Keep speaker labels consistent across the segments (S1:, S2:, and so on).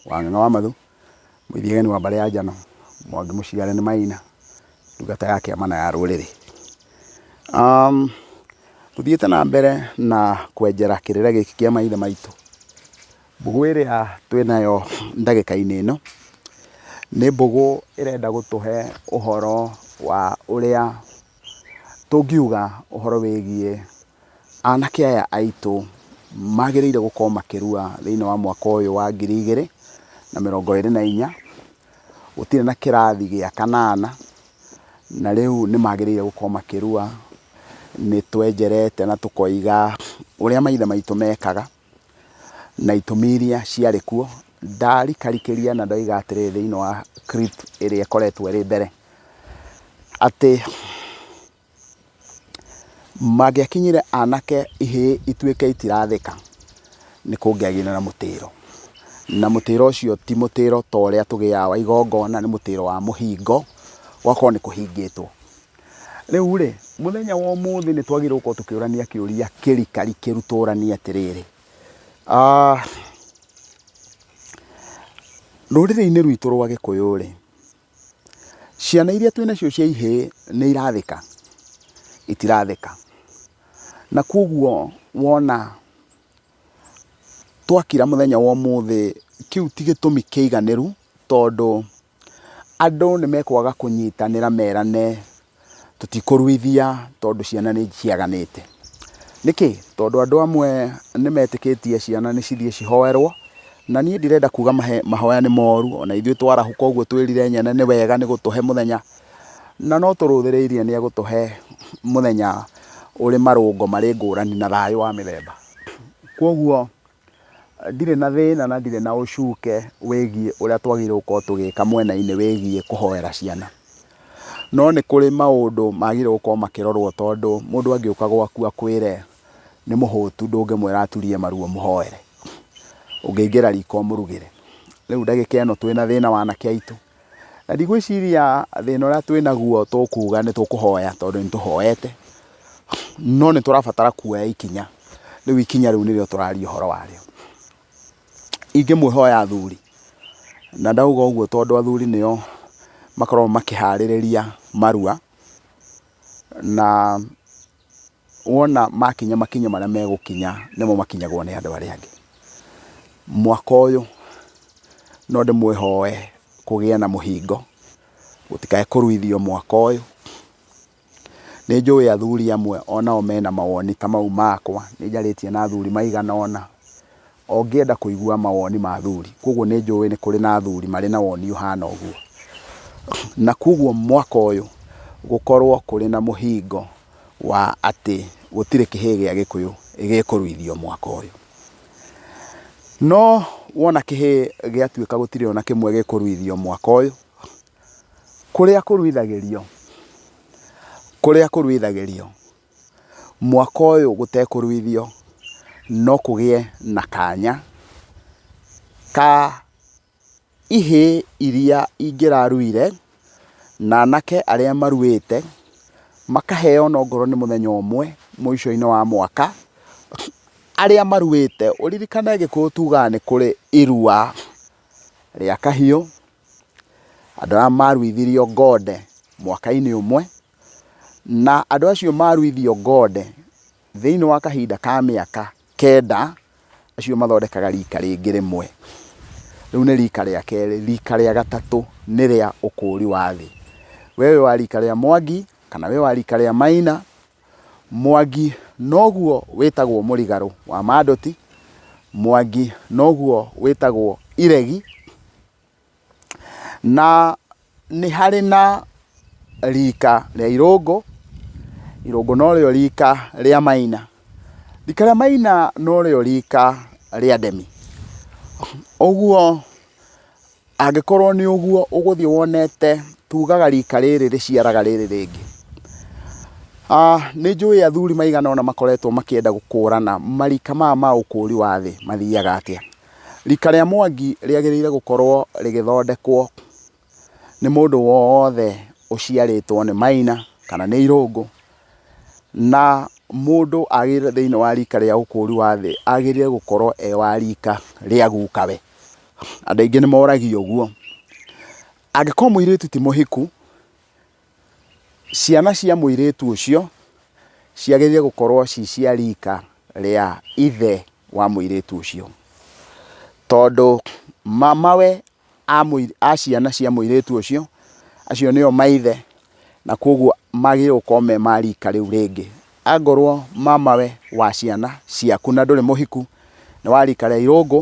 S1: Wang'eng'a wa Mathũ, Mũithigeni wa mbarĩ ya Njano, Mwangi Mũciare nĩ Maina, ndungata ya kĩama na ya rũrĩrĩ. Tũthiĩte na mbere na kwenjera kĩrĩra gĩkĩ kĩa maithe maitũ, mbũgũ ĩrĩa twĩnayo ndagĩka-inĩ ĩno, nĩ mbũgũ ĩrenda gũtũhe ũhoro wa ũrĩa Tũngiuga ũhoro wĩgiĩ anake aya aitũ magĩrĩire gũkorwo makĩrua thĩinĩ wa mwaka ũyũ wa ngiri igĩrĩ na mĩrongo ĩrĩ na inya, gũtirĩ na kĩrathi gĩa kanana, na rĩu nĩ magĩrĩire gũkorwo makĩrua. Nĩ twenjerete na tũkoiga ũrĩa maithe maitũ mekaga, na itũmi iria ciarĩ kuo, ndarikarikĩria na ndoiga atĩrĩ thĩinĩ wa clip ĩrĩa ĩkoretwo ĩrĩ mbere, atĩ mangĩakinyire anake ihĩĩ ituĩke itirathĩka, nĩ kũngĩagĩire na mũtĩĩro. Na mũtĩĩro ũcio ti mũtĩĩro ta ũrĩa tũgĩaga wa igongona, nĩ mũtĩĩro wa mũhingo, gũgakorwo nĩ kũhingĩtwo. Rĩu-rĩ, mũthenya wa ũmũthĩ nĩ twagĩrĩirwo gũkorwo tũkĩũrania kĩũria kĩrikari kĩru tũũranie atĩrĩrĩ, ah, rũrĩrĩ-inĩ rwitũ rwa Gĩkũyũ-rĩ, ciana iria twĩ nacio cia ihĩĩ nĩ irathĩka, itirathĩka. Na kuoguo wona twakira mũthenya wa ũmũthĩ, kĩu ti gĩtũmi kĩiganĩru tondũ... Andũ nĩ mekwaga kũnyitanĩra merane tũtikũruithia tondũ ciana nĩ ciaganĩte. Nĩkĩ? Tondũ andũ amwe nĩ metĩkĩtie ciana nĩ cithiĩ cihoerwo, na niĩ ndirenda kuga mahoya nĩ moru, o na ithuĩ twarahũka ũguo twĩrire Nyene nĩ wega nĩ gũtũhe mũthenya, na no tũrũthĩrĩirie nĩ egũtũhe mũthenya ũrĩ marũngo marĩ ngũrani na thayũ wa mĩthemba. Kwoguo... Ndirĩ na thĩna na ndirĩ na ũcuke wĩgiĩ ũrĩa twagĩrĩirwo gũkorwo tũgĩka mwena-inĩ wĩgiĩ kũhoera ciana. No nĩ kũrĩ maũndũ magĩrĩirwo gũkorwo makĩrorwo tondũ mũndũ angĩũka gwaku akwĩre nĩ mũhũtu ndũngĩmwĩra aturie maru ũmũhoere. Ũngĩingĩra riko ũmũrugĩre. Rĩu ndagĩka ĩno twĩna thĩna wa anake aitũ. Na ndigwĩciria thĩna ũrĩa twĩ naguo tũkuga nĩ tũkũhoya tondũ nĩ tũhoete, no nĩ tũrabatara kuoya ikinya, rĩu ikinya rĩu nĩrĩo tũraria ũhoro warĩo. Ingĩmũĩhoya athuri, na ndauga ũguo tondũ athuri nĩo makoragwo makĩharĩrĩria marua, na... wona makinya makinya marĩa megũkinya nĩmo makinyagwo nĩ andũ arĩa angĩ. Mwaka ũyũ no ndĩmwĩhoe kũgĩe na mũhingo, gũtikae kũruithio mwaka ũyũ. Nĩ njũĩ athuri amwe o nao mena mawoni ta mau makwa, nĩ njarĩtie na athuri maigana ũna, O ngĩenda kũigua mawoni ma athuri, kwoguo nĩ njũĩ nĩ kũrĩ na athuri marĩ na woni ũhana ũguo. Na kwoguo mwaka ũyũ gũkorwo kũrĩ na mũhingo wa atĩ gũtirĩ kĩhĩĩ gĩa Gĩkũyũ gĩkũruithio mwaka ũyũ. No wona kĩhĩĩ gĩatuĩka gũtirĩ o na kĩmwe gĩkũruithio mwaka ũyũ, kũrĩa kũruithagĩrio, kũrĩa kũruithagĩrio mwaka ũyũ gũtekũruithio no kũgĩe na kanya ka ihĩ iria ingĩraruire na anake arĩa maruĩte makaheo ona okorwo nĩ mũthenya ũmwe mũico-inĩ wa mwaka, arĩa maruĩte. Ũririkane Gĩkũyũ tugaga nĩ kũrĩ irua rĩa kahiũ, andũ arĩa maruithirio ng'onde mwaka-inĩ ũmwe. Na andũ acio maruithio Gode thĩinĩ wa kahinda ka mĩaka kenda, acio mathondekaga riika rĩngĩ rĩmwe. Rĩu nĩ riika rĩa kerĩ. Riika rĩa gatatũ nĩ rĩa ũkũũri wa thĩ. We wĩ wa riika rĩa Mwangi, kana wĩ wa riika rĩa Maina, Mwangi noguo wĩtagwo mũrigarũ wa Mandoti, Mwangi noguo wĩtagwo iregi. Na nĩ harĩ na rika rĩa irũngũ, irũngũ norĩo rika rĩa maina, rika rĩa maina norĩo rika rĩa ndemi. Ũguo angĩkorwo nĩ ũguo ũgũthiĩ wonete tugaga rika rĩrĩ rĩciaraga rĩrĩ rĩngĩ. Nĩ njũĩ athuri maigana ũna makoretwo makĩenda gũkũrana marika maya ma ũkũri wa thĩ mathiaga atĩa. Rika rĩa Mwangi rĩagĩrĩire gũkorwo rĩgĩthondekwo nĩ mũndũ wothe ũciarĩtwo nĩ Maina kana nĩ Irũngũ, na mũndũ agĩrĩire thĩinĩ wa rika rĩa ũkũri wa thĩ agĩrĩire gũkorwo e wa rika rĩa guka we. Andũ aingĩ nĩ moragia ũguo. Angĩkorwo mũirĩtu ti mũhiku... Ciana cia mũirĩtu ũcio ciagĩrĩire gũkorwo ci cia rika rĩa ithe wa mũirĩtu ũcio, tondũ mamawe a mũi, a ciana cia mũirĩtu ũcio, acio nĩo maithe, na koguo magĩrĩirwo gũkorwo me ma rika rĩu rĩngĩ. Angorwo mamawe wa ciana ciaku na ndũrĩ mũhiku, nĩ wa rika rĩa irũngũ,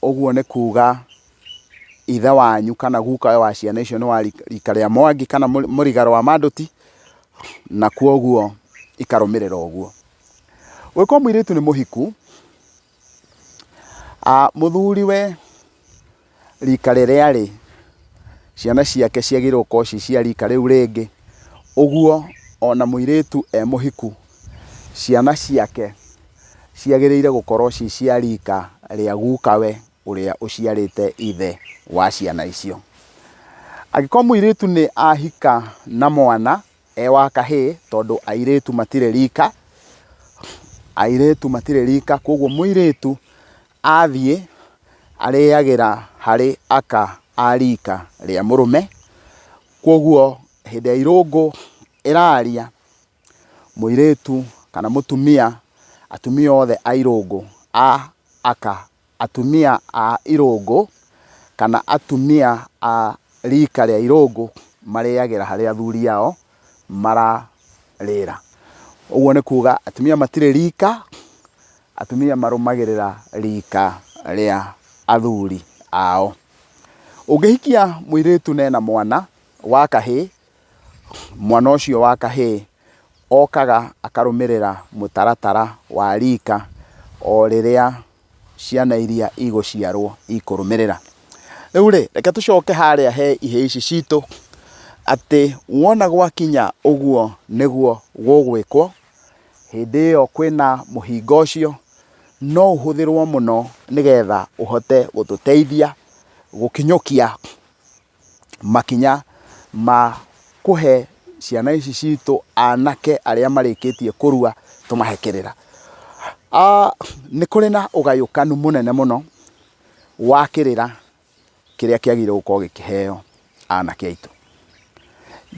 S1: ũguo nĩ kuga ithe wanyu kana guka ũyũ wa ciana icio nĩ wa rika rĩa Mwangi kana mũriga rwa Manduti, na kwoguo ikarũmĩrĩra ũguo. Ũngĩkorwo mũirĩtu nĩ mũhiku, mũthuriwe rika rĩrĩa arĩ, ciana ciake ciagĩrĩirwo gũkorwo ci cia rika rĩu rĩngĩ. Ũguo ona mũirĩtu e mũhiku, ciana ciake ciagĩrĩire gũkorwo ci cia rika rĩa gukawe. ũrĩa ũciarĩte ithe wa ciana icio. Angĩkorwo mũirĩtu nĩ ahika na mwana e wa kahĩĩ, tondũ airĩtu matirĩ rika, airĩtu matirĩ rika, koguo mũirĩtu athiĩ arĩagĩra harĩ aka a rika rĩa mũrũme, koguo hĩndĩ ĩrĩa irũngũ ĩraria, mũirĩtu kana mũtumia, atumia othe a irũngũ a aka Atumia a irũngũ kana atumia a rika rĩa irũngũ marĩagĩra harĩa athuri ao mararĩra. Ũguo nĩ kuga atumia matirĩ rika, atumia marũmagĩrĩra rika rĩa athuri ao. Ũngĩhikia mũirĩtu na ena mwana wa kahĩĩ. Mwana ũcio wa kahĩĩ okaga akarũmĩrĩra mũtaratara wa rika o rĩrĩa ciana iria igũciarwo ikũrũmĩrĩra. Rĩu rĩ, reke tũcoke harĩa he ihĩĩ ici citũ, atĩ wona gwakinya ũguo nĩguo gũgwĩkwo, hĩndĩ ĩyo kwĩna mũhinga ũcio, no ũhũthĩrwo mũno nĩgetha ũhote gũtũteithia gũkinyũkia makinya ma kũhe ciana ici citũ anake arĩa marĩkĩtie kũrua tũmahe kĩrĩra. Nĩ kũrĩ na ũgayũkanu mũnene mũno wa kĩrĩra kĩrĩa kĩagĩrĩirwo gũkorwo gĩkĩheo anake aitũ.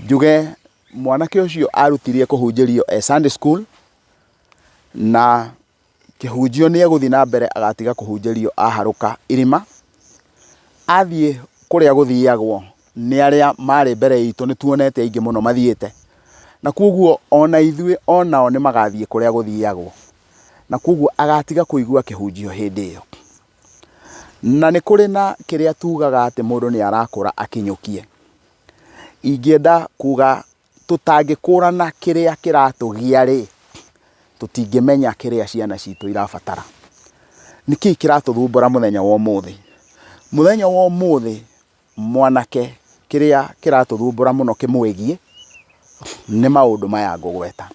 S1: Njuge mwanake ũcio arutirie kũhunjĩrio e Sunday school na... Kĩhunjio nĩ egũthiĩ na mbere agatiga kũhunjĩrio aharũka irima, athiĩ kũrĩa gũthiagwo nĩ arĩa marĩ mbere itũ, nĩ tuonete aingĩ mũno mathiĩte, na kwoguo ona ithuĩ onao nĩ magathiĩ kũrĩa gũthiagwo, na kwoguo agatiga kũigua kĩhunjio hĩndĩ ĩyo. Na nĩ kũrĩ na kĩrĩa tugaga atĩ mũndũ nĩ arakũra akinyũkie, ingĩenda kuga Tũtangĩkũrana kĩrĩa kĩratũgia-rĩ, tũtingĩmenya kĩrĩa ciana citũ irabatara. Nĩ kĩĩ kĩratũthumbũra mũthenya wa ũmũthĩ? Mũthenya wa ũmũthĩ mwanake kĩrĩa kĩratũthumbũra mũno kĩmwĩgiĩ nĩ maũndũ maya ngũgweta.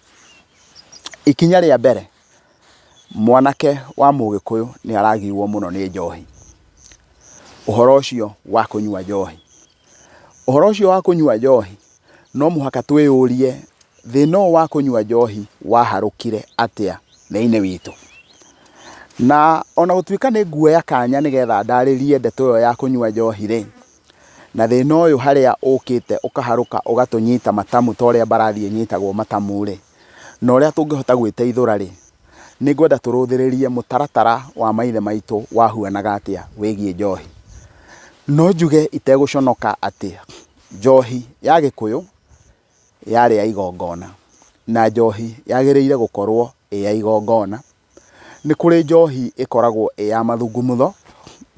S1: Ikinya rĩa mbere, mwanake wa mũgĩkũyũ nĩaragiuo mũno nĩ njohi, ũhoro ũcio wa kũnyua njohi. Ũhoro ũcio wa kũnyua njohi, no mũhaka twĩyũrie thĩna ũyũ wa kũnyua njohi waharũkire atĩa thĩinĩ witũ. Na ona gũtuĩka nĩ nguoya kanya nĩgetha ndarĩrie ndeto ĩyo ya kũnyua njohi rĩ, na thĩna ũyũ harĩa ũkĩte ũkaharũka ũgatũnyita matamu ta ũrĩa mbarathi ĩnyitagwo matamu rĩ, na ũrĩa tũngĩhota gwĩteithũra rĩ, nĩ ngwenda tũrũthĩrĩrie mũtaratara wa maithe maitũ wahuanaga atĩa wĩgiĩ njohi. No njuge itegũconoka atĩ njohi ya gĩkũyũ yarĩ ya igongona, na njohi yagĩrĩire gũkorwo ĩ ya igongona. Nĩ kũrĩ njohi ĩkoragwo ĩ ya mathungumutho,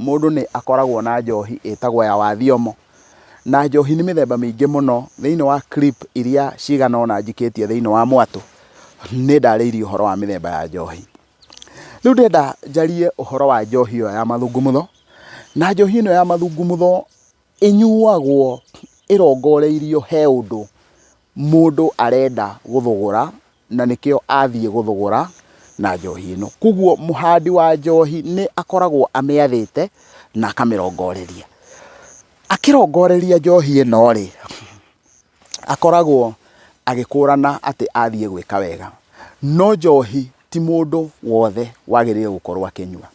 S1: mũndũ nĩ akoragwo na njohi ĩtagwo ya wa thiomo, na njohi nĩ mĩthemba mĩingĩ mũno. Thĩinĩ wa clip iria cigana ũna njikĩtie thĩinĩ wa mwatũ, nĩ ndarĩirie ũhoro wa mĩthemba ya njohi. Rĩu ndĩrenda njarie ũhoro wa njohi ĩyo ya mathungumutho, na njohi ĩno ya mathungumutho Ĩnyuagwo ĩrongoreirio he ũndũ mũndũ arenda gũthũgũra na nĩkĩo athiĩ gũthũgũra na njohi ĩno. Koguo mũhandi wa njohi nĩ akoragwo amĩathĩte na akamĩrongoreria. Akĩrongoreria njohi ĩno rĩ, akoragwo agĩkũrana atĩ athiĩ gwĩka wega. No njohi Ti mũndũ wothe wagĩrĩire gũkorwo akĩnyua.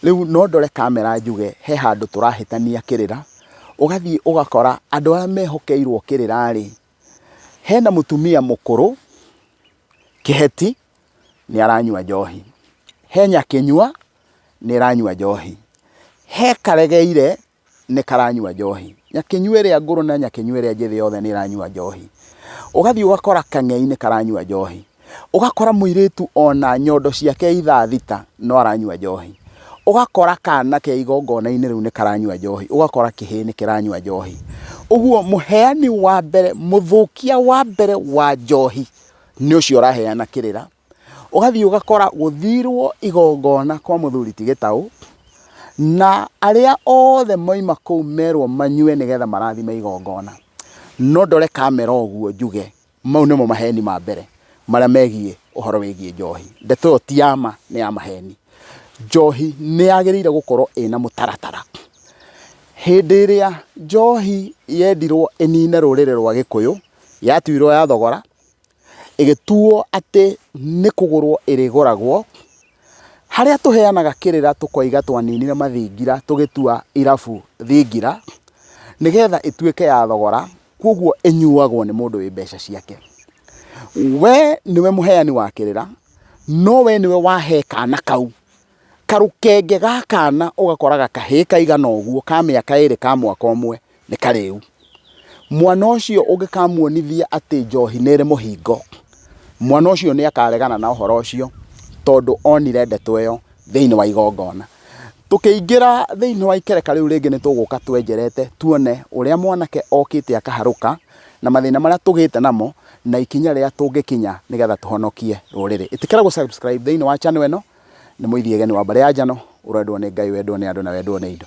S1: Rĩu no ndore kamera njuge he handũ tũrahĩtania kĩrĩra, ũgathiĩ ũgakora andũ arĩa mehokeirwo kĩrĩra-rĩ, hena mũtumia mũkũrũ kĩheti nĩ aranyua njohi, he nyakĩnyua nĩ ĩranyua njohi, he karegeire nĩ karanyua njohi. Nyakĩnyua ĩrĩa ngũrũ na nyakĩnyua ĩrĩa njĩthĩ yothe nĩ ĩranyua njohi. Ũgathiĩ ũgakora kang'ei nĩ karanyua njohi. Ũgakora mũirĩtu ona nyondo ciake ithaa thita no aranyua njohi. Ũgakora kana ke igongona-inĩ rĩu nĩ karanyua njohi. Ũgakora kĩhĩĩ nĩ kĩranyua njohi. Ũguo mũheani wa mbere, mũthũkia wa mbere wa njohi nĩ ũcio ũraheana kĩrĩra. ũgathiĩ ũgakora gũthirwo igongona kwa mũthuri ti gĩtaũ na arĩa othe moima kũu merwo manyue nĩgetha marathime igongona no ndore kamera ũguo njuge mau nĩmo maheni ma mbere marĩa megiĩ ũhoro wĩgiĩ njohi ndeto ĩyo ti ya ma nĩ ya maheni njohi nĩ yagĩrĩire gũkorwo ĩna mũtaratara hĩndĩ ĩrĩa njohi yendirwo ĩnine rũrĩrĩ rwa gĩkũyũ yatuirwo ya thogora ĩgĩtuo atĩ nĩ kũgũrwo ĩrĩgũragwo, harĩa tũheanaga kĩrĩra tũkoiga twaninire mathingira tũgĩtua irabu thingira, nĩgetha ĩtuĩke ya thogora, kũguo ĩnyuagwo nĩ mũndũ wĩ mbeca ciake. We nĩwe mũheani wa kĩrĩra, no we nĩwe wahe kana kau. Karũkenge ga kana ũgakoraga kahĩĩ kaigana ũguo ka mĩaka ĩrĩ ka mwaka ũmwe nĩ karĩu. Mwana ũcio ũngĩkamuonithia atĩ njohi nĩ ĩrĩ mũhingo, mwana ũcio nĩ akaregana na ũhoro ũcio tondũ onire ndeto ĩyo thĩinĩ wa igongona. Tũkĩingĩra thĩinĩ wa ikereka rĩu rĩngĩ nĩ tũgũka twenjerete tuone ũrĩa mwanake okĩte akaharũka na mathĩna marĩa tũgĩte namo na ikinya rĩrĩa tũngĩkinya nĩgetha tũhonokie rũrĩrĩ. Ĩtĩkĩra gũ subscribe thĩinĩ wa channel ĩno. nĩ mũithiageni wa mbarĩ ya njano, ũrendwo nĩ Ngai, wendwo nĩ andũ na wendwo nĩ indo.